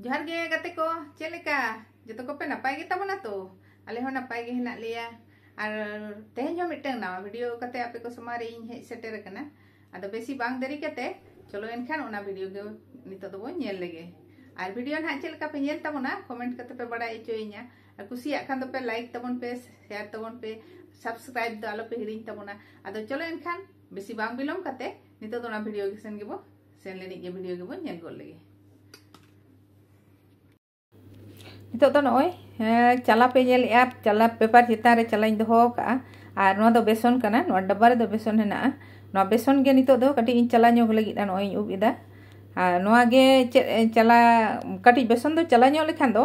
ᱡᱚᱦᱟᱨ ᱜᱮ ᱜᱟᱛᱮ ᱠᱚ ᱪᱮᱫ ᱞᱮᱠᱟ ᱡᱚᱛᱚ ᱠᱚᱯᱮ ᱱᱟᱯᱟᱭ ᱜᱮ ᱛᱟᱵᱚᱱᱟ ᱛᱚ ᱟᱞᱮ ᱦᱚᱸ ᱱᱟᱯᱟᱭ ᱜᱮ ᱦᱮᱱᱟᱜ ᱞᱮᱭᱟ ᱟᱨ ᱛᱮᱦᱮᱧ ᱦᱚᱸ ᱢᱤᱫᱴᱟᱝ ᱱᱟᱣᱟ ᱵᱷᱤᱰᱤᱭᱳ ᱠᱟᱛᱮ ᱟᱯᱮ ᱠᱚ ᱥᱚᱢᱟᱝ ᱨᱮ ᱤᱧ ᱦᱮᱡ ᱥᱮᱴᱮᱨ ᱟᱠᱟᱱᱟ ᱟᱫᱚ ᱵᱮᱥᱤ ᱵᱟᱝ ᱫᱮᱨᱤ ᱠᱟᱛᱮ ᱪᱚᱞᱚ ᱮᱱᱠᱷᱟᱱ ᱚᱱᱟ ᱵᱷᱤᱰᱤᱭᱳ ᱜᱮ ᱱᱤᱛᱚᱜ ᱫᱚᱵᱚᱱ ᱧᱮᱞ ᱞᱮᱜᱮ ᱟᱨ ᱵᱷᱤᱰᱤᱭᱳ ᱱᱟᱦᱟᱜ ᱪᱮᱫ ᱞᱮᱠᱟ ᱯᱮ ᱧᱮᱞ ᱛᱟᱵᱚᱱᱟ ᱠᱚᱢᱮᱱᱴ ᱠᱟᱛᱮ ᱯᱮ ᱵᱟᱲᱟᱭ ᱦᱚᱪᱚᱭᱤᱧᱟ ᱟᱨ ᱠᱩᱥᱤᱭᱟᱜ ᱠᱷᱟᱱ ᱫᱚᱯᱮ ᱞᱟᱭᱤᱠ ᱛᱟᱵᱚᱱ ᱯᱮ ᱥᱮᱭᱟᱨ ᱛᱟᱵᱚᱱ ᱯᱮ ᱥᱟᱵᱥᱠᱨᱟᱭᱤᱵ ᱫᱚ ᱟᱞᱚᱯᱮ ᱦᱤᱲᱤᱧ ᱛᱟᱵᱚᱱᱟ ᱟᱫᱚ ᱪᱚᱞᱚ ᱮᱱᱠᱷᱟᱱ ᱵᱮᱥᱤ ᱵᱟᱝ ᱵᱤᱞᱚᱢ ᱠᱟᱛᱮ ᱱᱤᱛᱚᱜ ᱫᱚ ᱚᱱᱟ ᱵᱷᱤᱰᱤᱭᱳ ᱜᱮᱥᱮᱱ ᱜᱮᱵᱚ ᱥᱮᱱ ᱞᱮᱱᱤᱡ ᱜᱮ ᱵᱷᱤᱰᱤᱭᱳ ᱜᱮᱵᱚᱱ ᱧᱮᱞ ᱜᱚᱫ ᱞᱮᱜᱮ ᱱᱤᱛᱚᱜ ᱫᱚ ᱱᱚᱜᱼᱚᱭ ᱪᱟᱞᱟ ᱯᱮ ᱧᱮᱞᱮᱜᱼᱟ ᱪᱟᱞᱟ ᱯᱮᱯᱟᱨ ᱪᱮᱛᱟᱱ ᱨᱮ ᱪᱟᱞᱟᱧ ᱫᱚᱦᱚ ᱟᱠᱟᱜᱼᱟ ᱟᱨ ᱱᱚᱣᱟ ᱫᱚ ᱵᱮᱥᱚᱱ ᱠᱟᱱᱟ ᱱᱚᱣᱟ ᱰᱟᱵᱵᱟ ᱨᱮᱫᱚ ᱵᱮᱥᱚᱱ ᱦᱮᱱᱟᱜᱼᱟ ᱱᱚᱣᱟ ᱵᱮᱥᱚᱱ ᱜᱮ ᱱᱤᱛᱚᱜ ᱫᱚ ᱠᱟᱹᱴᱤᱡ ᱤᱧ ᱪᱟᱞᱟ ᱧᱚᱜ ᱞᱟᱹᱜᱤᱫ ᱱᱚᱜᱼᱚᱭ ᱤᱧ ᱩᱵ ᱮᱫᱟ ᱟᱨ ᱱᱚᱣᱟ ᱜᱮ ᱪᱮᱫ ᱪᱟᱞᱟ ᱠᱟᱹᱴᱤᱡ ᱵᱮᱥᱚᱱ ᱫᱚ ᱪᱟᱞᱟ ᱧᱚᱜ ᱞᱮᱠᱷᱟᱱ ᱫᱚ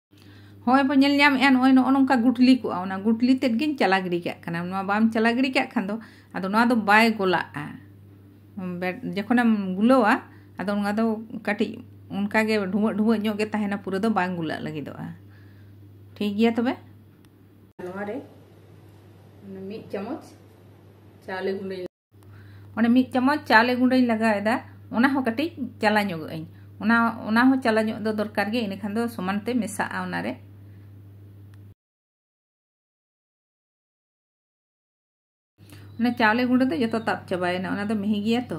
ᱦᱚᱸᱜᱼᱚᱭ ᱵᱚᱱ ᱧᱮᱞ ᱧᱟᱢᱮᱜᱼᱟ ᱱᱚᱜᱼᱚᱭ ᱱᱚᱜᱼᱚ ᱱᱚᱝᱠᱟ ᱜᱩᱴᱞᱤ ᱠᱚᱜᱼᱟ ᱚᱱᱟ ᱜᱩᱴᱞᱤ ᱛᱮᱫ ᱜᱤᱧ ᱪᱟᱞᱟ ᱜᱤᱰᱤ ᱠᱟᱜ ᱠᱟᱱᱟ ᱱᱚᱣᱟ ᱵᱟᱢ ᱪᱟᱞᱟ ᱜᱤᱰᱤ ᱠᱟᱜ ᱠᱷᱟᱱ ᱫᱚ ᱟᱫᱚ ᱱᱚᱣᱟ ᱫᱚ ᱵᱟᱭ ᱜᱚᱞᱟᱜᱼᱟ ᱡᱚᱠᱷᱚᱱᱮᱢ ᱜᱩᱞᱟᱹᱣᱟ ᱟᱫᱚ ᱱᱚᱣᱟ ᱫᱚ ᱠᱟᱹᱴᱤᱡ ᱚᱱᱠᱟᱜᱮ ᱰᱷᱩᱢᱟᱹᱜ ᱰᱷᱩᱢᱟᱹᱜ ᱧᱚᱜ ᱜᱮ ᱛᱟᱦᱮᱱᱟ ᱯᱩᱨᱟᱹ ᱫᱚ ᱵᱟᱝ ᱜᱩᱞᱟᱹᱜ ᱞᱟᱹᱜᱤᱫᱚᱜᱼᱟ ᱴᱷᱤᱠ ᱜᱮᱭᱟ ᱛᱚᱵᱮ ᱱᱚᱣᱟ ᱨᱮ ᱢᱤᱫ ᱪᱟᱢᱚᱪ ᱪᱟᱣᱞᱮ ᱜᱩᱸᱰᱟᱹ ᱚᱱᱮ ᱢᱤᱫ ᱪᱟᱢᱚᱪ ᱪᱟᱣᱞᱮ ᱜᱩᱸᱰᱟᱹᱧ ᱞᱟᱜᱟᱣᱮᱫᱟ ᱚᱱᱟ ᱦᱚᱸ ᱠᱟᱹᱴᱤᱡ ᱪᱟᱞᱟ ᱧᱚᱜ ᱟᱹᱧ ᱚᱱᱟ ᱚᱱᱟ ᱦᱚᱸ ᱪᱟᱞᱟ ᱧᱚᱜ ᱫᱚ ᱫᱚᱨᱠᱟᱨ ᱜᱮ ᱤᱱᱟᱹᱠᱷᱟᱱ ᱫᱚ ᱥᱚᱢᱟᱱ ᱛᱮ ᱢᱮᱥᱟᱜᱼᱟ ᱚᱱᱟᱨᱮ ᱚᱱᱟ ᱪᱟᱣᱞᱮ ᱜᱩᱸᱰᱟᱹ ᱫᱚ ᱡᱚᱛᱚ ᱛᱟᱵ ᱪᱟᱵᱟᱭᱮᱱᱟ ᱚᱱᱟ ᱫᱚ ᱢᱤᱦᱤ ᱜᱮᱭᱟ ᱛᱚ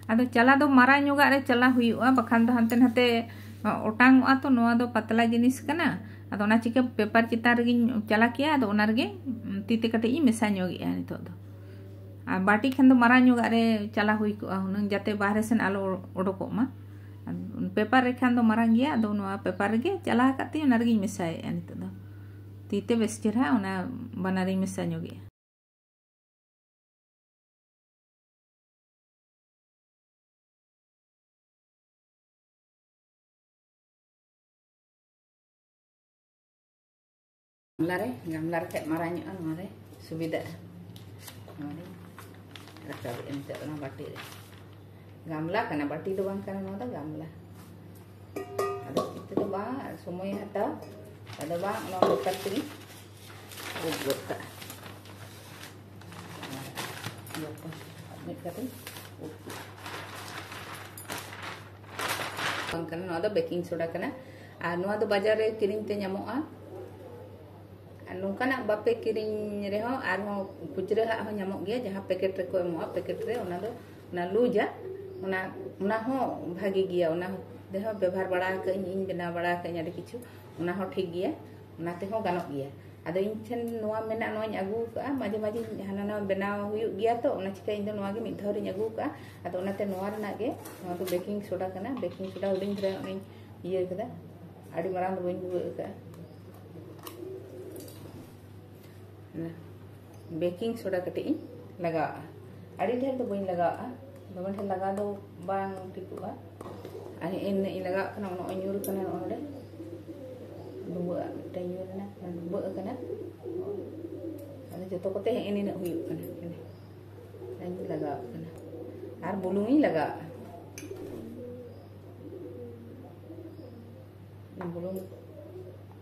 ᱟᱫᱚ ᱪᱟᱞᱟ ᱫᱚ ᱢᱟᱨᱟᱝ ᱧᱚᱜᱟᱜ ᱨᱮ ᱪᱟᱞᱟ ᱦᱩᱭᱩᱜᱼᱟ ᱵᱟᱠᱷᱟᱱ ᱫᱚ ᱦᱟᱱᱛᱮ ᱱᱟᱛᱮ ᱚᱴᱟᱝᱚᱜᱼᱟ ᱛᱚ ᱱᱚᱣᱟ ᱫᱚ ᱯᱟᱛᱞᱟ ᱡᱤᱱᱤᱥ ᱠᱟᱱᱟ ᱟᱫᱚ ᱚᱱᱟ ᱪᱤᱠᱟᱹ ᱯᱮᱯᱟᱨ ᱪᱮᱛᱟᱱ ᱨᱮᱜᱮᱧ ᱪᱟᱞᱟ ᱠᱮᱭᱟ ᱟᱫᱚ ᱚᱱᱟ ᱨᱮᱜᱮ ᱛᱤ ᱛᱮ ᱠᱟᱹᱴᱤᱡ ᱤᱧ ᱢᱮᱥᱟ ᱧᱚᱜᱮᱜᱼᱟ ᱱᱤᱛᱚᱜ ᱫᱚ ᱟᱨ ᱵᱟᱴᱤ ᱠᱷᱟᱱ ᱫᱚ ᱢᱟᱨᱟᱝ ᱧᱚᱜᱟᱜ ᱨᱮ ᱪᱟᱞᱟ ᱦᱩᱭ ᱠᱚᱜᱼᱟ ᱦᱩᱱᱟᱹᱝ ᱡᱟᱛᱮ ᱵᱟᱦᱨᱮ ᱥᱮᱱ ᱟᱞᱚ ᱚᱰᱚᱠᱚᱜ ᱢᱟ ᱯᱮᱯᱟᱨ ᱨᱮ ᱠᱷᱟᱱ ᱫᱚ ᱢᱟᱨᱟᱝ ᱜᱮᱭᱟ ᱟᱫᱚ ᱱᱚᱣᱟ ᱯᱮᱯᱟᱨ ᱨᱮᱜᱮ ᱪᱟᱞᱟ ᱟᱠᱟᱫ ᱛᱤᱧ ᱚᱱᱟ ᱨᱮᱜᱮᱧ ᱢᱮᱥᱟᱭᱮᱜᱼᱟ ᱱᱤᱛᱚᱜ ᱫᱚ ᱛᱤ ᱛᱮ ᱵᱮᱥ ᱪᱮᱦᱨᱟ ᱚᱱᱟ ᱵᱟᱱᱟᱨᱤᱧ ᱢᱮᱥᱟ ᱧᱚᱜᱮᱜᱼᱟ ᱜᱟᱢᱞᱟ ᱨᱮ ᱜᱟᱢᱞᱟ ᱨᱮ ᱠᱷᱟᱡ ᱢᱟᱨᱟᱝ ᱧᱚᱜᱼᱟ ᱱᱚᱣᱟ ᱨᱮ ᱥᱩᱵᱤᱫᱷᱟᱜᱼᱟ ᱱᱚᱣᱟ ᱨᱮ ᱨᱟᱠᱟᱵᱮᱫᱼᱟ ᱱᱤᱛᱚᱜ ᱚᱱᱟ ᱵᱟᱹᱴᱤ ᱨᱮ ᱜᱟᱢᱞᱟ ᱠᱟᱱᱟ ᱵᱟᱹᱴᱤ ᱫᱚ ᱵᱟᱝ ᱠᱟᱱᱟ ᱱᱚᱣᱟ ᱫᱚ ᱜᱟᱢᱞᱟ ᱟᱫᱚ ᱛᱤᱛᱮ ᱫᱚ ᱵᱟᱝ ᱥᱚᱢᱚᱭ ᱦᱟᱛᱟᱣ ᱟᱫᱚ ᱵᱟᱝ ᱚᱱᱟ ᱞᱮᱠᱟ ᱛᱮᱜᱮ ᱵᱩᱡᱽ ᱜᱚᱫ ᱠᱟᱜᱼᱟ ᱢᱤᱫ ᱠᱟᱛᱮ ᱵᱟᱝ ᱠᱟᱱᱟ ᱱᱚᱣᱟ ᱫᱚ ᱵᱮᱠᱤᱝ ᱥᱳᱰᱟ ᱠᱟᱱᱟ ᱟᱨ ᱱᱚᱣᱟ ᱫᱚ ᱵᱟᱡᱟᱨ ᱨᱮ ᱠᱤᱨᱤᱧ ᱛᱮ ᱧᱟᱢᱚᱜᱼᱟ ᱟᱨ ᱱᱚᱝᱠᱟᱱᱟᱜ ᱵᱟᱯᱮ ᱠᱤᱨᱤᱧ ᱨᱮᱦᱚᱸ ᱟᱨᱦᱚᱸ ᱠᱷᱩᱪᱨᱟᱹ ᱦᱟᱜ ᱦᱚᱸ ᱧᱟᱢᱚᱜ ᱜᱮᱭᱟ ᱡᱟᱦᱟᱸ ᱯᱮᱠᱮᱴ ᱨᱮᱠᱚ ᱮᱢᱚᱜᱼᱟ ᱯᱮᱠᱮᱴ ᱨᱮ ᱚᱱᱟ ᱫᱚ ᱚᱱᱟ ᱞᱩᱡᱟ ᱚᱱᱟ ᱚᱱᱟ ᱦᱚᱸ ᱵᱷᱟᱜᱮ ᱜᱮᱭᱟ ᱚᱱᱟ ᱨᱮᱦᱚᱸ ᱵᱮᱵᱚᱦᱟᱨ ᱵᱟᱲᱟ ᱟᱠᱟᱫᱟᱹᱧ ᱤᱧ ᱵᱮᱱᱟᱣ ᱵᱟᱲᱟ ᱟᱠᱟᱫᱟᱹᱧ ᱟᱹᱰᱤ ᱠᱤᱪᱷᱩ ᱚᱱᱟ ᱦᱚᱸ ᱴᱷᱤᱠ ᱜᱮᱭᱟ ᱚᱱᱟ ᱛᱮᱦᱚᱸ ᱜᱟᱱᱚᱜ ᱜᱮᱭᱟ ᱟᱫᱚ ᱤᱧ ᱴᱷᱮᱱ ᱱᱚᱣᱟ ᱢᱮᱱᱟᱜ ᱱᱚᱣᱟᱧ ᱟᱹᱜᱩ ᱟᱠᱟᱫᱼᱟ ᱢᱟᱡᱷᱮ ᱢᱟᱡᱷᱮ ᱦᱟᱱᱟ ᱱᱟᱣᱟ ᱵᱮᱱᱟᱣ ᱦᱩᱭᱩᱜ ᱜᱮᱭᱟ ᱛᱚ ᱚᱱᱟ ᱪᱤᱠᱟᱹ ᱤᱧ ᱫᱚ ᱱᱚᱣᱟ ᱜᱮ ᱢᱤᱫ ᱫᱷᱟᱣ ᱨᱤᱧ ᱟᱹᱜᱩ ᱟᱠᱟᱫᱼᱟ ᱟᱫᱚ ᱚᱱᱟᱛᱮ ᱱᱚᱣᱟ ᱨᱮᱱᱟᱜ ᱜᱮ ᱱᱚᱣᱟ ᱫᱚ ᱵᱮᱠᱤᱝ ᱥᱳᱰᱟ ᱠᱟᱱᱟ ᱵᱮᱠᱤᱝ ᱥᱳᱰᱟ ᱦᱩᱰᱤᱧ ᱫᱷᱟᱨᱟ ᱚᱱᱟᱧ ᱤᱭᱟᱹ ᱠᱟᱫᱟ ᱟᱹᱰᱤ ᱢᱟᱨᱟᱝ ᱫᱚ ᱵᱟᱹᱧ ᱵᱷᱩᱜᱟᱹᱜ ᱟᱠᱟᱫᱼᱟ ᱵᱮᱠᱤᱝ ᱥᱳᱰᱟ ᱠᱟᱹᱴᱤᱡ ᱤᱧ ᱞᱟᱜᱟᱣᱟᱜᱼᱟ ᱟᱹᱰᱤ ᱰᱷᱮᱨ ᱫᱚ ᱵᱟᱹᱧ ᱞᱟᱜᱟᱣᱟᱜᱼᱟ ᱫᱚᱢᱮ ᱰᱷᱮᱨ ᱞᱟᱜᱟᱣ ᱫᱚ ᱵᱟᱝ ᱴᱷᱤᱠᱚᱜᱼᱟ ᱟᱨ ᱤᱱᱟᱹᱜ ᱤᱧ ᱞᱟᱜᱟᱣᱟᱜ ᱠᱟᱱᱟ ᱱᱚᱜᱼᱚᱭ ᱧᱩᱨ ᱠᱟᱱᱟ ᱱᱚᱸᱰᱮ ᱰᱩᱵᱟᱹᱜᱼᱟ ᱢᱤᱫᱴᱮᱱ ᱧᱩᱨ ᱮᱱᱟ ᱰᱩᱵᱟᱹᱜ ᱠᱟᱱᱟ ᱟᱫᱚ ᱡᱚᱛᱚ ᱠᱚᱛᱮ ᱦᱮᱸ ᱱᱤᱱᱟᱹᱜ ᱦᱩᱭᱩᱜ ᱠᱟᱱᱟ ᱤᱧ ᱞᱟᱜᱟᱣᱟᱜ ᱠᱟᱱᱟ ᱟᱨ ᱵᱩᱞᱩᱝ ᱤᱧ ᱞᱟᱜᱟᱣᱟᱜᱼᱟ ᱵᱩᱞᱩᱝ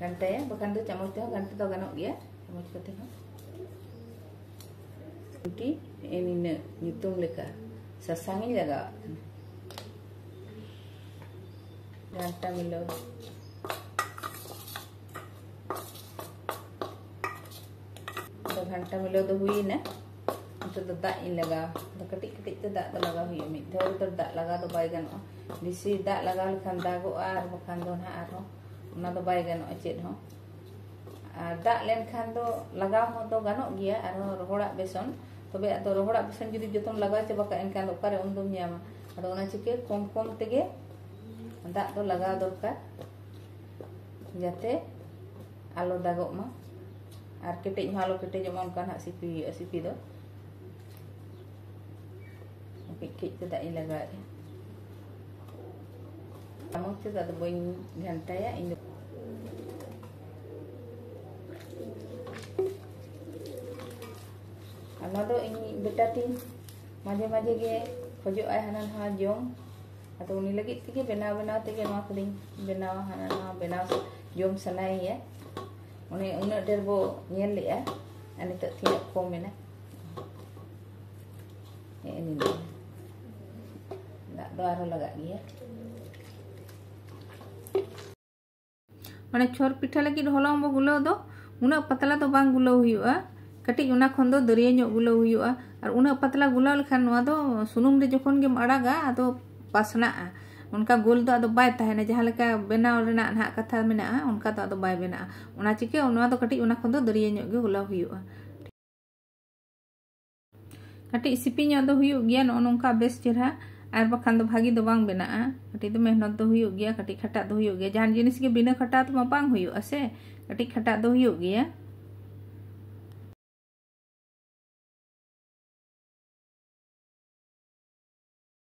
ᱜᱷᱟᱱᱴᱟᱭᱟ ᱵᱟᱠᱷᱟᱱ ᱫᱚ ᱪᱟᱢᱚᱪ ᱛᱮᱦᱚᱸ ᱜᱷᱟᱱᱴᱟ ᱫᱚ ᱜᱟᱱᱚᱜ ᱜᱮᱭᱟ ᱪᱟᱢᱚᱪ ᱠᱚᱛᱮ ᱦᱚᱸ ᱨᱩᱴᱤ ᱱᱤᱱᱟᱹᱜ ᱧᱩᱛᱩᱢ ᱞᱮᱠᱟ ᱥᱟᱥᱟᱝ ᱤᱧ ᱞᱟᱜᱟᱣᱟᱜ ᱠᱟᱱᱟ ᱜᱷᱟᱱᱴᱟ ᱢᱤᱞᱟᱹᱣ ᱜᱷᱟᱱᱴᱟ ᱢᱤᱞᱟᱹᱣ ᱫᱚ ᱦᱩᱭᱱᱟ ᱱᱤᱛᱚᱜ ᱫᱚ ᱫᱟᱜ ᱤᱧ ᱞᱟᱜᱟᱣ ᱫᱚ ᱠᱟᱹᱴᱤᱡ ᱠᱟᱹᱴᱤᱡ ᱛᱮ ᱫᱟᱜ ᱫᱚ ᱞᱟᱜᱟᱣ ᱦᱩᱭᱩᱜᱼᱟ ᱢᱤᱫ ᱫᱷᱟᱣ ᱨᱮᱫᱚ ᱫᱟᱜ ᱞᱟᱜᱟᱣ ᱫᱚ ᱵᱟᱭ ᱜᱟᱱᱚᱜᱼᱟ ᱵᱮᱥᱤ ᱫᱟᱜ ᱞᱟᱜᱟᱣ ᱞᱮᱠᱷᱟᱱ ᱫᱟᱜᱚᱜᱼᱟ ᱟᱨ ᱵᱟᱠᱷᱟᱱ ᱫᱚ ᱱᱟᱦᱟᱜ ᱟᱨᱦᱚᱸ ᱚᱱᱟ ᱫᱚ ᱵᱟᱭ ᱜᱟᱱᱚᱜᱼᱟ ᱪᱮᱫ ᱦᱚᱸ ᱟᱨ ᱫᱟᱜ ᱞᱮᱱᱠᱷᱟᱱ ᱫᱚ ᱞᱟᱜᱟᱣ ᱦᱚᱸ ᱫᱚ ᱜᱟᱱᱚᱜ ᱜᱮᱭᱟ ᱟᱨᱦᱚᱸ ᱨᱚᱦᱚᱲᱟᱜ ᱵᱮᱥᱚᱱ ᱛᱚᱵᱮ ᱟᱫᱚ ᱨᱚᱦᱚᱲᱟᱜ ᱵᱮᱥᱚᱱ ᱡᱩᱫᱤ ᱡᱚᱛᱚᱢ ᱞᱟᱜᱟᱣ ᱪᱟᱵᱟ ᱠᱟᱜᱼᱟ ᱮᱱᱠᱷᱟᱱ ᱫᱚ ᱚᱠᱟᱨᱮ ᱩᱱ ᱫᱚᱢ ᱧᱟᱢᱟ ᱟᱫᱚ ᱚᱱᱟ ᱪᱤᱠᱟᱹ ᱠᱚᱢ ᱠᱚᱢ ᱛᱮᱜᱮ ᱫᱟᱜ ᱫᱚ ᱞᱟᱜᱟᱣ ᱫᱚᱨᱠᱟর ᱡᱟᱛᱮ ᱟᱞᱚ ᱫᱟᱜᱚᱜ ᱢᱟ ᱟᱨ ᱠᱮᱴᱮᱡ ᱦᱚᱸ ᱟᱞᱚ ᱠᱮᱴᱮᱡᱚᱜ ᱢᱟ ᱚᱱᱠᱟ ᱱᱟᱜ ᱥᱤᱯᱤ ᱦᱩᱭᱩᱜᱼᱟ ᱥᱤᱯᱤ ᱫᱚ ᱠᱟᱹᱡ ᱠᱟᱹᱡ ᱛᱮ ᱫᱟᱜ ᱤᱧ ᱞᱟᱜᱟᱣᱮᱫᱼᱟ ᱪᱟᱢᱚᱪ ᱛᱮᱫᱚ ᱟᱫᱚ ᱵᱟᱹᱧ ᱜᱷᱟᱱᱴᱟᱭᱟ ᱤᱧ ᱫᱚ ᱚᱱᱟ ᱫᱚ ᱤᱧ ᱵᱮᱴᱟ ᱛᱤᱧ ᱢᱟᱡᱷᱮ ᱢᱟᱡᱷᱮ ᱜᱮ ᱠᱷᱚᱡᱚᱜᱼᱟᱭ ᱦᱟᱱᱟ ᱱᱟᱣᱟ ᱡᱚᱢ ᱟᱫᱚ ᱩᱱᱤ ᱞᱟᱹᱜᱤᱫ ᱛᱮᱜᱮ ᱵᱮᱱᱟᱣ ᱵᱮᱱᱟᱣ ᱛᱮᱜᱮ ᱱᱚᱣᱟ ᱠᱚᱫᱚᱧ ᱵᱮᱱᱟᱣᱟ ᱦᱟᱱᱟ ᱱᱟᱣᱟ ᱵᱮᱱᱟᱣ ᱡᱚᱢ ᱥᱟᱱᱟᱭᱮᱭᱟ ᱚᱱᱮ ᱩᱱᱟᱹᱜ ᱰᱷᱮᱨ ᱵᱚ ᱧᱮᱞ ᱞᱮᱜᱼᱟ ᱟᱨ ᱱᱤᱛᱚᱜ ᱛᱤᱱᱟᱹᱜ ᱠᱚᱢ ᱮᱱᱟ ᱦᱮᱸ ᱱᱤᱱᱟᱹ ᱫᱟᱜ ᱫᱚ ᱟᱨᱦᱚᱸ ᱞᱟᱜᱟᱜ ᱜᱮᱭᱟ ᱢᱟᱱᱮ ᱪᱷᱚᱨ ᱯᱤᱴᱷᱟᱹ ᱞᱟᱹᱜᱤᱫ ᱦᱚᱞᱚᱝ ᱵᱚ ᱜᱩᱞᱟᱹᱣ ᱫᱚ ᱩᱱᱟᱹᱜ ᱯᱟᱛᱞᱟ ᱫᱚ ᱵᱟᱝ ᱜᱩᱞᱟᱹᱣ ᱦᱩᱭᱩᱜᱼᱟ ᱠᱟᱹᱴᱤᱡ ᱚᱱᱟ ᱠᱷᱚᱱ ᱫᱚ ᱫᱟᱹᱨᱭᱟᱹ ᱧᱚᱜ ᱜᱩᱞᱟᱹᱣ ᱦᱩᱭᱩᱜᱼᱟ ᱟᱨ ᱩᱱᱟᱹᱜ ᱯᱟᱛᱞᱟ ᱜᱩᱞᱟᱹᱣ ᱞᱮᱠᱷᱟᱱ ᱱᱚᱣᱟ ᱫᱚ ᱥᱩᱱᱩᱢ ᱨᱮ ᱡᱚᱠᱷᱚᱱ ᱜᱮᱢ ᱟᱲᱟᱜᱟ ᱟᱫᱚ ᱯᱟᱥᱱᱟᱜᱼᱟ ᱚᱱᱠᱟ ᱜᱳᱞ ᱫᱚ ᱟᱫᱚ ᱵᱟᱭ ᱛᱟᱦᱮᱱᱟ ᱡᱟᱦᱟᱸ ᱞᱮᱠᱟ ᱵᱮᱱᱟᱣ ᱨᱮᱱᱟᱜ ᱱᱟᱦᱟᱜ ᱠᱟᱛᱷᱟ ᱢᱮᱱᱟᱜᱼᱟ ᱚᱱᱠᱟ ᱫᱚ ᱟᱫᱚ ᱵᱟᱭ ᱵᱮᱱᱟᱜᱼᱟ ᱚᱱᱟ ᱪᱤᱠᱟᱹ ᱱᱚᱣᱟ ᱫᱚ ᱠᱟᱹᱴᱤᱡ ᱚᱱᱟ ᱠᱷᱚᱱ ᱫᱚ ᱫᱟᱹᱨᱭᱟᱹ ᱧᱚᱜ ᱜᱮ ᱜᱩᱞᱟᱹᱣ ᱦᱩᱭᱩᱜᱼᱟ ᱠᱟᱹᱴᱤᱡ ᱥᱤᱯᱤ ᱧᱚᱜ ᱫᱚ ᱦᱩᱭᱩᱜ ᱜᱮᱭᱟ ᱱᱚᱜᱼᱚ ᱱᱚᱝᱠᱟ ᱵᱮᱥ ᱪᱮᱨᱦᱟ ᱟᱨ ᱵᱟᱠᱷᱟᱱ ᱫᱚ ᱵᱷᱟᱹᱜᱤ ᱫᱚ ᱵᱟᱝ ᱵᱮᱱᱟᱜᱼᱟ ᱠᱟᱹᱴᱤᱡ ᱫᱚ ᱢᱮᱦᱱᱚᱛ ᱫᱚ ᱦᱩᱭᱩᱜ ᱜᱮᱭᱟ ᱠᱟᱹᱴᱤᱡ ᱠᱷᱟᱴᱟᱜ ᱫᱚ ᱦᱩᱭᱩᱜ ᱜᱮᱭᱟ ᱡᱟᱦᱟᱱ ᱡᱤᱱᱤᱥ ᱜᱮ ᱵᱤᱱᱟᱹ ᱠᱷᱟᱴᱟᱣ ᱛᱮᱢᱟ ᱵᱟᱝ ᱦᱩᱭᱩᱜᱼᱟ ᱥᱮ ᱠᱟᱹᱴᱤᱡ ᱠᱷᱟᱴᱟᱜ ᱫᱚ ᱦᱩᱭᱩᱜ ᱜᱮᱭᱟ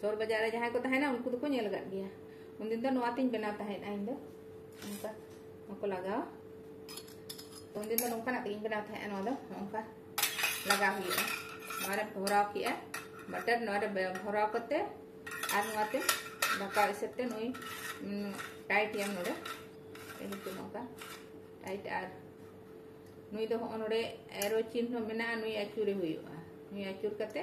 ᱥᱚᱦᱚᱨ ᱵᱟᱡᱟᱨ ᱨᱮ ᱡᱟᱦᱟᱸᱭ ᱠᱚ ᱛᱟᱦᱮᱱᱟ ᱩᱱᱠᱩ ᱫᱚᱠᱚ ᱧᱮᱞ ᱟᱠᱟᱫ ᱜᱮᱭᱟ ᱩᱱᱫᱤᱱ ᱫᱚ ᱱᱚᱣᱟ ᱛᱤᱧ ᱵᱮᱱᱟᱣ ᱛᱟᱦᱮᱸᱫᱼᱟ ᱤᱧ ᱫᱚ ᱱᱚᱝᱠᱟ ᱱᱚᱣᱟ ᱠᱚ ᱞᱟᱜᱟᱣᱟ ᱩᱱᱫᱤᱱ ᱫᱚ ᱱᱚᱝᱠᱟᱱᱟᱜ ᱛᱮᱜᱮᱧ ᱵᱮᱱᱟᱣ ᱛᱟᱦᱮᱸᱫᱼᱟ ᱱᱚᱣᱟ ᱫᱚ ᱱᱚᱝᱠᱟ ᱞᱟᱜᱟᱣ ᱦᱩᱭᱩᱜᱼᱟ ᱱᱚᱣᱟ ᱨᱮ ᱵᱷᱚᱨᱟᱣ ᱠᱮᱜᱼᱟ ᱵᱟᱴᱟᱨ ᱱᱚᱣᱟ ᱨᱮ ᱵᱷᱚᱨᱟᱣ ᱠᱟᱛᱮ ᱟᱨ ᱱᱚᱣᱟ ᱛᱮ ᱫᱟᱠᱟ ᱤᱥᱤᱱ ᱛᱮ ᱱᱩᱭ ᱴᱟᱭᱤᱴ ᱮᱢ ᱱᱚᱰᱮ ᱱᱤᱛᱚᱜ ᱱᱚᱝᱠᱟ ᱴᱟᱭᱤᱴ ᱟᱨ ᱱᱩᱭ ᱫᱚ ᱦᱚᱸᱜᱼᱚ ᱱᱚᱰᱮ ᱮᱨᱚ ᱪᱤᱱᱦᱚ ᱢᱮᱱᱟᱜᱼᱟ ᱱᱩᱭ ᱟᱹᱪᱩᱨᱮ ᱦᱩᱭᱩᱜᱼᱟ ᱱᱩᱭ ᱟᱹᱪᱩᱨ ᱠᱟᱛᱮ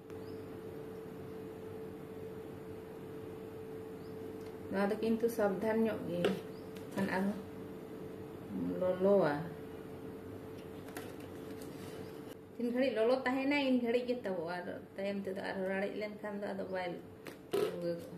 ᱱᱚᱣᱟ ᱫᱚ ᱠᱤᱱᱛᱩ ᱥᱟᱵᱫᱷᱟᱱ ᱧᱚᱜ ᱜᱮ ᱠᱷᱟᱱ ᱟᱨᱦᱚᱸ ᱞᱚᱞᱚᱣᱟ ᱛᱤᱱ ᱜᱷᱟᱹᱲᱤᱡ ᱞᱚᱞᱚ ᱛᱟᱦᱮᱱᱟ ᱤᱱ ᱜᱷᱟᱹᱲᱤᱡ ᱜᱮ ᱛᱟᱵᱚᱜᱼᱟ ᱟᱨ ᱛᱟᱭᱚᱢ ᱛᱮᱫᱚ ᱟᱨᱦᱚᱸ ᱨᱟᱲᱮᱡ ᱞᱮᱱᱠᱷᱟᱱ ᱫᱚ ᱟᱫᱚ ᱵᱟᱭ ᱵᱷᱩᱜᱟᱹᱜᱚᱜᱼᱟ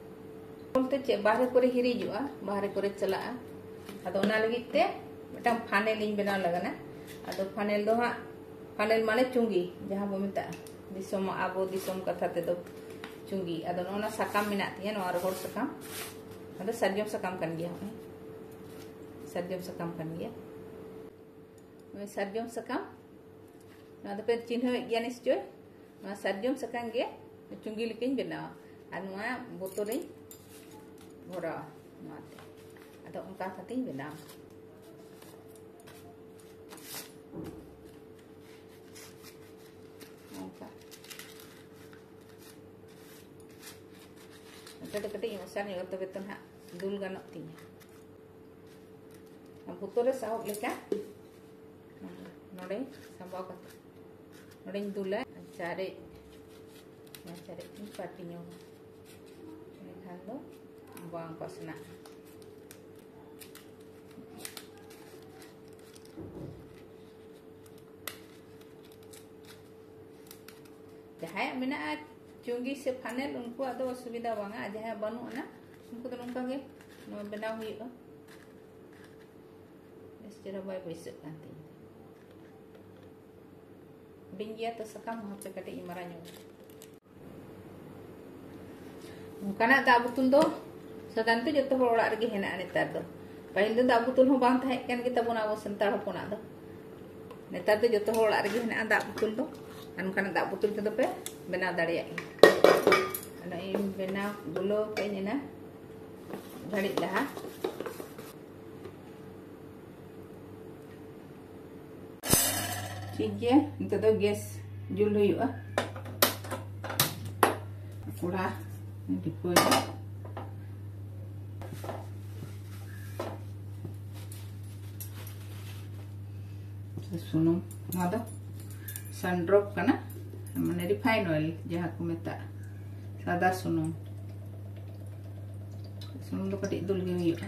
ᱪᱮᱫ ᱵᱟᱦᱨᱮ ᱠᱚᱨᱮ ᱦᱤᱨᱤᱡᱚᱜᱼᱟ ᱵᱟᱦᱨᱮ ᱠᱚᱨᱮ ᱪᱟᱞᱟᱜᱼᱟ ᱟᱫᱚ ᱚᱱᱟ ᱞᱟᱹᱜᱤᱫ ᱛᱮ ᱢᱤᱫᱴᱟᱝ ᱯᱷᱟᱱᱮᱞ ᱤᱧ ᱵᱮᱱᱟᱣ ᱞᱟᱜᱟᱱᱟ ᱟᱫᱚ ᱯᱷᱟᱱᱮᱞ ᱫᱚ ᱦᱟᱸᱜ ᱯᱷᱟᱱᱮᱞ ᱢᱟᱱᱮ ᱪᱩᱸᱜᱤ ᱡᱟᱦᱟᱸ ᱵᱚ ᱢᱮᱛᱟᱜᱼᱟ ᱫᱤᱥᱚᱢ ᱟᱵᱚ ᱫᱤᱥᱚᱢ ᱠᱟᱛᱷᱟ ᱛᱮᱫᱚ ᱪᱩᱸᱜᱤ ᱟᱫᱚ ᱱᱚᱜᱼᱚ ᱥᱟᱠᱟᱢ ᱢᱮᱱᱟᱜ ᱛᱤᱧᱟᱹ ᱱᱚᱣᱟ ᱨᱚᱦᱚᱲ ᱥᱟᱠᱟᱢ ᱟᱫᱚ ᱥᱟᱨᱡᱚᱢ ᱥᱟᱠᱟᱢ ᱠᱟᱱ ᱜᱮᱭᱟ ᱦᱚᱸᱜᱼᱚᱭ ᱥᱟᱨᱡᱚᱢ ᱥᱟᱠᱟᱢ ᱠᱟᱱ ᱜᱮᱭᱟ ᱥᱟᱨᱡᱚᱢ ᱥᱟᱠᱟᱢ ᱱᱚᱣᱟ ᱫᱚᱯᱮ ᱪᱤᱱᱦᱟᱹᱣᱮᱫ ᱜᱮᱭᱟ ᱱᱤᱥᱪᱳᱭ ᱱᱚᱣᱟ ᱥᱟᱨᱡᱚᱢ ᱥᱟᱠᱟᱢ ᱜᱮ ᱪᱩᱸᱜᱤ ᱞᱮᱠᱟᱧ ᱵᱮᱱᱟᱣᱟ ᱟᱨ ᱱᱚᱣᱟ ᱵᱳᱛᱚᱞ ᱨᱤᱧ ᱵᱷᱚᱨᱟᱣᱟ ᱱᱚᱣᱟᱛᱮ ᱟᱫᱚ ᱚᱱᱠᱟ ᱠᱟᱛᱮᱧ ᱵᱮᱱᱟᱣᱟ ᱚᱱᱠᱟ ᱱᱚᱛᱮ ᱫᱚ ᱠᱟᱹᱴᱤᱡ ᱢᱚᱥᱟ ᱧᱚᱜ ᱛᱚᱵᱮ ᱛᱚ ᱱᱟᱦᱟᱜ ᱫᱩᱞ ᱜᱟᱱᱚᱜ ᱛᱤᱧᱟ ᱵᱳᱛᱚᱞ ᱨᱮ ᱥᱟᱦᱚᱵ ᱞᱮᱠᱟ ᱱᱚᱰᱮ ᱥᱟᱢᱵᱟᱣ ᱠᱟᱛᱮ ᱱᱚᱰᱮᱧ ᱫᱩᱞᱟ ᱪᱟᱨᱮᱡ ᱚᱱᱟ ᱪᱟᱨᱮᱡ ᱤᱧ ᱯᱟᱹᱴᱤ ᱧᱚᱜᱟ ᱮᱱᱠᱷᱟᱱ ᱫᱚ ᱵᱟᱝ ᱯᱟᱥᱱᱟᱜᱼᱟ ᱡᱟᱦᱟᱸᱭᱟᱜ ᱢᱮᱱᱟᱜᱼᱟ ᱪᱩᱸᱜᱤ ᱥᱮ ᱯᱷᱟᱱᱮᱞ ᱩᱱᱠᱩᱣᱟᱜ ᱫᱚ ᱚᱥᱩᱵᱤᱫᱟ ᱵᱟᱝᱟ ᱟᱨ ᱡᱟᱦᱟᱸᱭᱟᱜ ᱵᱟᱹᱱᱩᱜ ᱟᱱᱟ ᱩᱱᱠᱩ ᱫᱚ ᱱᱚᱝᱠᱟ ᱜᱮ ᱱᱚᱣᱟ ᱵᱮᱱᱟᱣ ᱦᱩᱭᱩᱜᱼᱟ ᱵᱮᱥ ᱪᱮᱦᱨᱟ ᱵᱟᱭ ᱵᱟᱹᱭᱥᱟᱹᱜ ᱠᱟᱱ ᱛᱤᱧ ᱦᱩᱰᱤᱧ ᱜᱮᱭᱟ ᱛᱚ ᱥᱟᱠᱟᱢ ᱦᱚᱸ ᱦᱟᱯᱮ ᱠᱟᱹᱴᱤᱡ ᱤᱧ ᱢᱟᱨᱟᱝ ᱧᱚᱜ ᱚᱱᱠᱟᱱᱟᱜ ᱫᱟᱜ ᱵᱩᱛᱩᱞ ᱫᱚ ᱥᱟᱫᱷᱟᱨᱚᱱ ᱛᱮ ᱡᱚᱛᱚ ᱦᱚᱲ ᱚᱲᱟᱜ ᱨᱮᱜᱮ ᱦᱮᱱᱟᱜᱼᱟ ᱱᱮᱛᱟᱨ ᱫᱚ ᱯᱟᱹᱦᱤᱞ ᱫᱚ ᱫᱟᱜ ᱵᱩᱛᱩᱞ ᱦᱚᱸ ᱵᱟᱝ ᱛᱟᱦᱮᱸ ᱠᱟᱱ ᱜᱮ ᱛᱟᱵᱚᱱᱟ ᱟᱵᱚ ᱥᱟᱱᱛᱟᱲ ᱦᱚᱯᱚᱱᱟᱜ ᱫᱚ ᱱᱮᱛᱟᱨ ᱫᱚ ᱡᱚᱛᱚ ᱦᱚᱲ ᱚᱲᱟᱜ ᱨᱮᱜᱮ ᱦᱮᱱᱟᱜᱼᱟ ᱫᱟᱜ ᱵᱩᱛᱩᱞ ᱫᱚ ᱟᱨ ᱚᱱᱠᱟᱱᱟᱜ ᱫᱟᱜ ᱵᱩᱛᱩᱞ ᱛᱮᱫᱚ ᱯᱮ ᱵᱮᱱᱟᱣ ᱫᱟᱲᱮᱭᱟᱜ ᱜᱮᱭᱟ ᱚᱱᱟ ᱤᱧ ᱵᱮᱱᱟᱣ ᱜᱩᱞᱟᱹᱣ ᱠᱟᱜ ᱟᱹᱧ ᱮᱱᱟ ᱜᱷᱟᱹᱲᱤᱡ ᱞᱟᱦᱟ ᱴᱷᱤᱠ ᱜᱮᱭᱟ ᱱᱤᱛᱚᱜ ᱫᱚ ᱜᱮᱥ ᱡᱩᱞ ᱦᱩᱭᱩᱜᱼᱟ ᱠᱚᱲᱟ ᱰᱤᱯᱟᱹᱭᱟ ᱥᱩᱱᱩᱢ ᱱᱚᱣᱟ ᱫᱚ ᱥᱟᱱᱰᱨᱚᱯ ᱠᱟᱱᱟ ᱢᱟᱱᱮ ᱨᱤᱯᱷᱟᱭᱤᱱ ᱚᱭᱮᱞ ᱡᱟᱦᱟᱸ ᱠᱚ ᱢᱮᱛᱟᱜᱼᱟ ᱥᱟᱫᱟ ᱥᱩᱱᱩᱢ ᱥᱩᱱᱩᱢ ᱫᱚ ᱠᱟᱹᱴᱤᱡ ᱫᱩᱞ ᱜᱮ ᱦᱩᱭᱩᱜᱼᱟ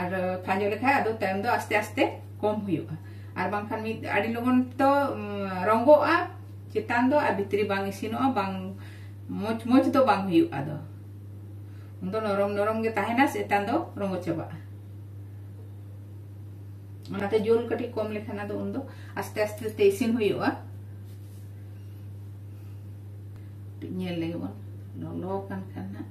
ᱟᱨ ᱠᱷᱟᱸᱡᱚ ᱞᱮᱠᱷᱟᱡ ᱟᱫᱚ ᱛᱟᱭᱚᱢ ᱫᱚ ᱟᱥᱛᱮ ᱟᱥᱛᱮ ᱠᱚᱢ ᱦᱩᱭᱩᱜᱼᱟ ᱟᱨ ᱵᱟᱝᱠᱷᱟᱱ ᱢᱤᱫ ᱟᱹᱰᱤ ᱞᱚᱜᱚᱱ ᱫᱚ ᱨᱚᱝᱜᱚᱜᱼᱟ ᱪᱮᱛᱟᱱ ᱫᱚ ᱟᱨ ᱵᱷᱤᱛᱨᱤ ᱵᱟᱝ ᱤᱥᱤᱱᱚᱜᱼᱟ ᱵᱟᱝ ᱢᱚᱡᱽ ᱢᱚᱡᱽ ᱫᱚ ᱵᱟᱝ ᱦᱩᱭᱩᱜᱼᱟ ᱟᱫᱚ ᱩᱱ ᱫᱚ ᱱᱚᱨᱚᱢ ᱱᱚᱨᱚᱢ ᱜᱮ ᱛᱟᱦᱮᱱᱟ ᱪᱮᱛᱟᱱ ᱫᱚ ᱨᱚᱝᱜᱚ ᱪᱟᱵᱟᱜᱼᱟ ᱚᱱᱟᱛᱮ ᱡᱳᱞ ᱠᱟᱹᱴᱤᱡ ᱠᱚᱢ ᱞᱮᱠᱷᱟᱱ ᱟᱫᱚ ᱩᱱ ᱫᱚ ᱟᱥᱛᱮ ᱟᱥᱛᱮ ᱛᱮ ᱤᱥᱤᱱ ᱦᱩᱭᱩᱜᱼᱟ ᱧᱮᱞ ᱞᱮᱜᱮ ᱵᱚᱱ ᱞᱚᱞᱚ ᱠᱟᱱ ᱠᱷᱟᱱ ᱦᱟᱸᱜ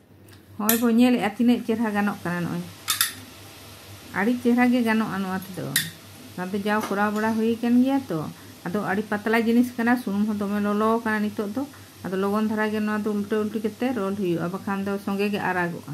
ᱦᱚᱸᱜᱼᱚᱭ ᱵᱚ ᱧᱮᱞᱮᱜᱼᱟ ᱛᱤᱱᱟᱹᱜ ᱪᱮᱦᱨᱟ ᱜᱟᱱᱚᱜ ᱠᱟᱱᱟ ᱱᱚᱜᱼᱚᱭ ᱟᱹᱰᱤ ᱪᱮᱦᱨᱟ ᱜᱮ ᱜᱟᱱᱚᱜᱼᱟ ᱱᱚᱣᱟ ᱛᱮᱫᱚ ᱱᱚᱣᱟ ᱫᱚ ᱡᱟᱣ ᱠᱚᱨᱟᱣ ᱵᱟᱲᱟ ᱦᱩᱭ ᱟᱠᱟᱱ ᱜᱮᱭᱟ ᱛᱚ ᱟᱫᱚ ᱟᱹᱰᱤ ᱯᱟᱛᱞᱟ ᱡᱤᱱᱤᱥ ᱠᱟᱱᱟ ᱥᱩᱱᱩᱢ ᱦᱚᱸ ᱫᱚᱢᱮ ᱞᱚᱞᱚ ᱟᱠᱟᱱᱟ ᱱᱤᱛᱚᱜ ᱫᱚ ᱟᱫᱚ ᱞᱚᱜᱚᱱ ᱫᱷᱟᱨᱟ ᱜᱮ ᱱᱚᱣᱟ ᱫᱚ ᱩᱞᱴᱟᱹ ᱩᱞᱴᱤ ᱠᱟᱛᱮ ᱨᱳᱞ ᱦᱩᱭᱩᱜᱼᱟ ᱵᱟᱠᱷᱟᱱ ᱫᱚ ᱥᱚᱸᱜᱮ ᱜᱮ ᱟᱨᱟᱜᱚᱜᱼᱟ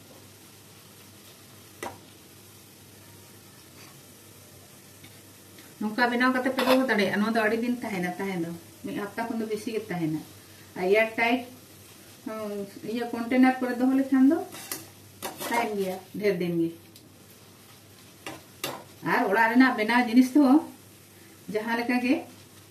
ᱱᱚᱝᱠᱟ ᱵᱮᱱᱟᱣ ᱠᱟᱛᱮ ᱯᱮ ᱫᱚᱦᱚ ᱫᱟᱲᱮᱭᱟᱜᱼᱟ ᱱᱚᱣᱟ ᱫᱚ ᱟᱹᱰᱤ ᱫᱤᱱ ᱛᱟᱦᱮᱱᱟ ᱛᱟᱦᱮᱸ ᱫᱚ ᱢᱤᱫ ᱦᱟᱯᱛᱟ ᱠᱷᱚᱱ ᱫᱚ ᱵᱮᱥᱤ ᱜᱮ ᱛᱟᱦᱮᱱᱟ ᱟᱨ ᱮᱭᱟᱨ ᱴᱟᱭᱤᱴ ᱤᱭᱟᱹ ᱠᱚᱱᱴᱮᱱᱟᱨ ᱠᱚᱨᱮ ᱫᱚᱦᱚ ᱞᱮᱠᱷᱟᱱ ᱫᱚ ᱛᱟᱦᱮᱱ ᱜᱮᱭᱟ ᱰᱷᱮᱨ ᱫᱤᱱ ᱜᱮ ᱟᱨ ᱚᱲᱟᱜ ᱨᱮᱱᱟᱜ ᱵᱮᱱᱟᱣ ᱡᱤᱱᱤᱥ ᱫᱚ ᱡᱟᱦᱟᱸ ᱞᱮᱠᱟ ᱜᱮ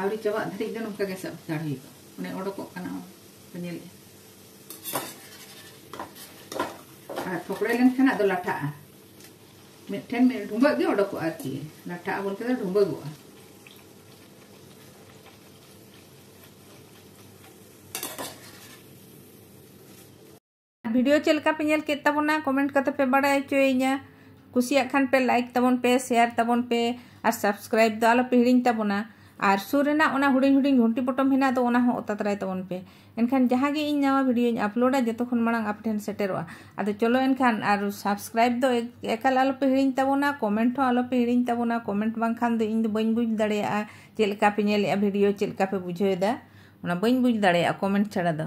ᱟᱹᱣᱨᱤ ᱪᱟᱵᱟᱜ ᱫᱷᱟᱹᱨᱤᱡ ᱫᱚ ᱱᱚᱝᱠᱟ ᱜᱮ ᱥᱟᱵ ᱦᱟᱛᱟᱲ ᱦᱩᱭᱩᱜᱼᱟ ᱚᱱᱮ ᱚᱰᱚᱠᱚᱜ ᱠᱟᱱᱟ ᱯᱮ ᱧᱮᱞᱮᱫᱼᱟ ᱟᱨ ᱯᱷᱚᱠᱲᱮ ᱞᱮᱱᱠᱷᱟᱱ ᱟᱫᱚ ᱞᱟᱴᱷᱟᱜᱼᱟ ᱢᱤᱫᱴᱷᱮᱱ ᱢᱤᱫ ᱰᱷᱩᱸᱵᱟᱹᱜ ᱜᱮ ᱚᱰᱚᱠᱚᱜᱼᱟ ᱟᱨᱠᱤ ᱞᱟᱴᱷᱟᱜᱼᱟ ᱵᱚᱞᱛᱮ ᱫᱚ ᱰᱷᱩᱸᱵᱟᱹᱜᱚᱜᱼᱟ ᱵᱷᱤᱰᱤᱭᱳ ᱪᱮᱫ ᱞᱮᱠᱟ ᱯᱮ ᱧᱮᱞ ᱠᱮᱫ ᱛᱟᱵᱚᱱᱟ ᱠᱚᱢᱮᱱᱴ ᱠᱟᱛᱮ ᱯᱮ ᱵᱟᱲᱟᱭ ᱦᱚᱪᱚᱭᱤᱧᱟ ᱠᱩᱥᱤᱭᱟᱜ ᱠᱷᱟᱱ ᱯᱮ ᱞᱟᱭᱤᱠ ᱛᱟᱵᱚᱱ ᱯᱮ ᱥᱮᱭᱟᱨ ᱛᱟᱵᱚᱱ ᱯᱮ ᱟᱨ ᱥᱟᱵᱥᱠᱨᱟᱭᱤᱵ ᱫᱚ ᱟᱞᱚ ᱯᱮ ᱦᱤᱲᱤᱧ ᱛᱟᱵᱚᱱᱟ ᱟᱨ ᱥᱩᱨ ᱨᱮᱱᱟᱜ ᱚᱱᱟ ᱦᱩᱰᱤᱧ ᱦᱩᱰᱤᱧ ᱜᱷᱩᱱᱴᱤ ᱯᱚᱴᱚᱢ ᱦᱮᱱᱟᱜ ᱫᱚ ᱚᱱᱟ ᱦᱚᱸ ᱚᱛᱟ ᱛᱟᱨᱟᱭ ᱛᱟᱵᱚᱱ ᱯᱮ ᱮᱱᱠᱷᱟᱱ ᱡᱟᱦᱟᱸ ᱜᱮ ᱤᱧ ᱱᱟᱣᱟ ᱵᱷᱤᱰᱤᱭᱳᱧ ᱟᱯᱞᱳᱰᱟ ᱡᱚᱛᱚ ᱠᱷᱚᱱ ᱢᱟᱲᱟᱝ ᱟᱯᱮ ᱴᱷᱮᱱ ᱥᱮᱴᱮᱨᱚᱜᱼᱟ ᱟᱫᱚ ᱪᱚᱞᱚ ᱮᱱᱠᱷᱟᱱ ᱟᱨ ᱥᱟᱵᱥᱠᱨᱟᱭᱤᱵ ᱫᱚ ᱮᱠᱟᱞ ᱟᱞᱚᱯᱮ ᱦᱤᱲᱤᱧ ᱛᱟᱵᱚᱱᱟ ᱠᱚᱢᱮᱱᱴ ᱦᱚᱸ ᱟᱞᱚᱯᱮ ᱦᱤᱲᱤᱧ ᱛᱟᱵᱚᱱᱟ ᱠᱚᱢᱮᱱᱴ ᱵᱟᱝᱠᱷᱟᱱ ᱫᱚ ᱤᱧ ᱫᱚ ᱵᱟᱹᱧ ᱵᱩᱡᱽ ᱫᱟᱲᱮᱭᱟᱜᱼᱟ ᱪᱮᱫ ᱞᱮᱠᱟ ᱯᱮ ᱧᱮᱞᱮᱜᱼᱟ ᱵᱷᱤᱰᱤᱭᱳ ᱪᱮᱫ ᱞᱮᱠᱟ ᱯᱮ ᱵᱩᱡᱷᱟᱹᱣᱮᱫᱟ ᱚᱱᱟ ᱵᱟᱹᱧ ᱵᱩᱡᱽ ᱫᱟᱲᱮᱭᱟᱜᱼᱟ ᱠᱚᱢᱮᱱᱴ ᱪᱷᱟᱲᱟ ᱫᱚ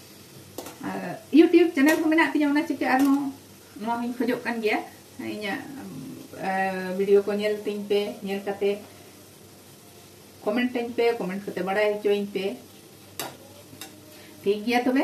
ᱤᱭᱩᱴᱤᱭᱩᱵᱽ ᱪᱮᱱᱮᱞ ᱦᱚᱸ ᱢᱮᱱᱟᱜ ᱛᱤᱧᱟ ᱚᱱᱟ ᱪᱤᱠᱟᱹ ᱟᱨᱦᱚᱸ ᱱᱚᱣᱟ ᱦᱚᱸᱧ ᱠᱷᱚᱡᱚᱜ ᱠᱟᱱ ᱜᱮᱭᱟ ᱤᱧᱟᱹᱜ ᱵᱷᱤᱰᱤᱭᱳ ᱠᱚ ᱧᱮᱞ ᱛᱤᱧ ᱯᱮ ᱧᱮᱞ ᱠᱟᱛᱮ ᱠᱚᱢᱮᱱᱴ ᱟᱹᱧ ᱯᱮ ᱠᱚᱢᱮᱱᱴ ᱠᱟᱛᱮ ᱵᱟᱲᱟᱭ ᱦᱚᱪᱚᱧ ᱯᱮ ᱴᱷᱤᱠ ᱜᱮᱭᱟ ᱛᱚᱵᱮ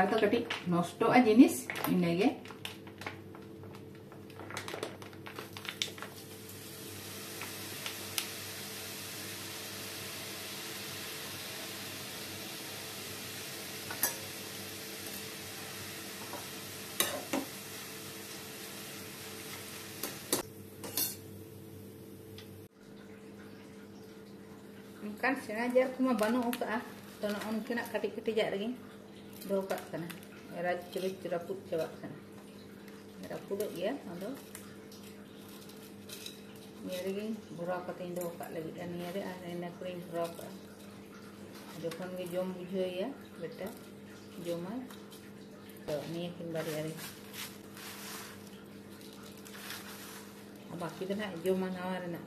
ᱟᱨ ᱫᱚ ᱠᱟᱹᱴᱤᱡ ᱱᱚᱥᱴᱚᱜᱼᱟ ᱡᱤᱱᱤᱥ ᱤᱱᱟᱹᱜᱮ ᱚᱱᱠᱟᱱ ᱥᱮᱬᱟ ᱡᱟᱨ ᱠᱚᱢᱟ ᱵᱟᱹᱱᱩᱜ ᱟᱠᱟᱫᱼᱟ ᱛᱚ ᱱᱚᱜᱼᱚ ᱱᱚᱝᱠᱟᱱᱟᱜ ᱠᱟᱹᱴᱤᱡ ᱠᱟᱹᱴᱤᱡᱟᱜ ᱨᱮᱜᱮᱧ ᱫᱚᱦᱚ ᱠᱟᱜ ᱠᱟᱱᱟ ᱨᱟᱡᱽ ᱪᱩᱨᱩᱡ ᱨᱟᱹᱯᱩᱫ ᱪᱟᱵᱟᱜ ᱠᱟᱱᱟ ᱨᱟᱹᱯᱩᱫᱚᱜ ᱜᱮᱭᱟ ᱟᱫᱚ ᱱᱤᱭᱟᱹ ᱨᱮᱜᱮᱧ ᱵᱷᱚᱨᱟᱣ ᱠᱟᱛᱮᱧ ᱫᱚᱦᱚ ᱠᱟᱜ ᱞᱟᱹᱜᱤᱫ ᱟᱨ ᱱᱤᱭᱟᱹ ᱨᱮ ᱟᱨ ᱤᱱᱟᱹ ᱠᱚᱨᱮᱧ ᱵᱷᱚᱨᱟᱣ ᱠᱟᱜᱼᱟ ᱡᱚᱠᱷᱚᱱ ᱜᱮ ᱡᱚᱢ ᱵᱩᱡᱷᱟᱹᱣᱮᱭᱟ ᱵᱮᱴᱟ ᱡᱚᱢᱟᱭ ᱛᱚ ᱱᱤᱭᱟᱹ ᱠᱤᱱ ᱵᱟᱨᱭᱟ ᱨᱮ ᱵᱟᱹᱠᱤ ᱫᱚ ᱱᱟᱦᱟᱜ ᱡᱚᱢᱟ ᱱᱟᱣᱟ ᱨᱮᱱᱟᱜ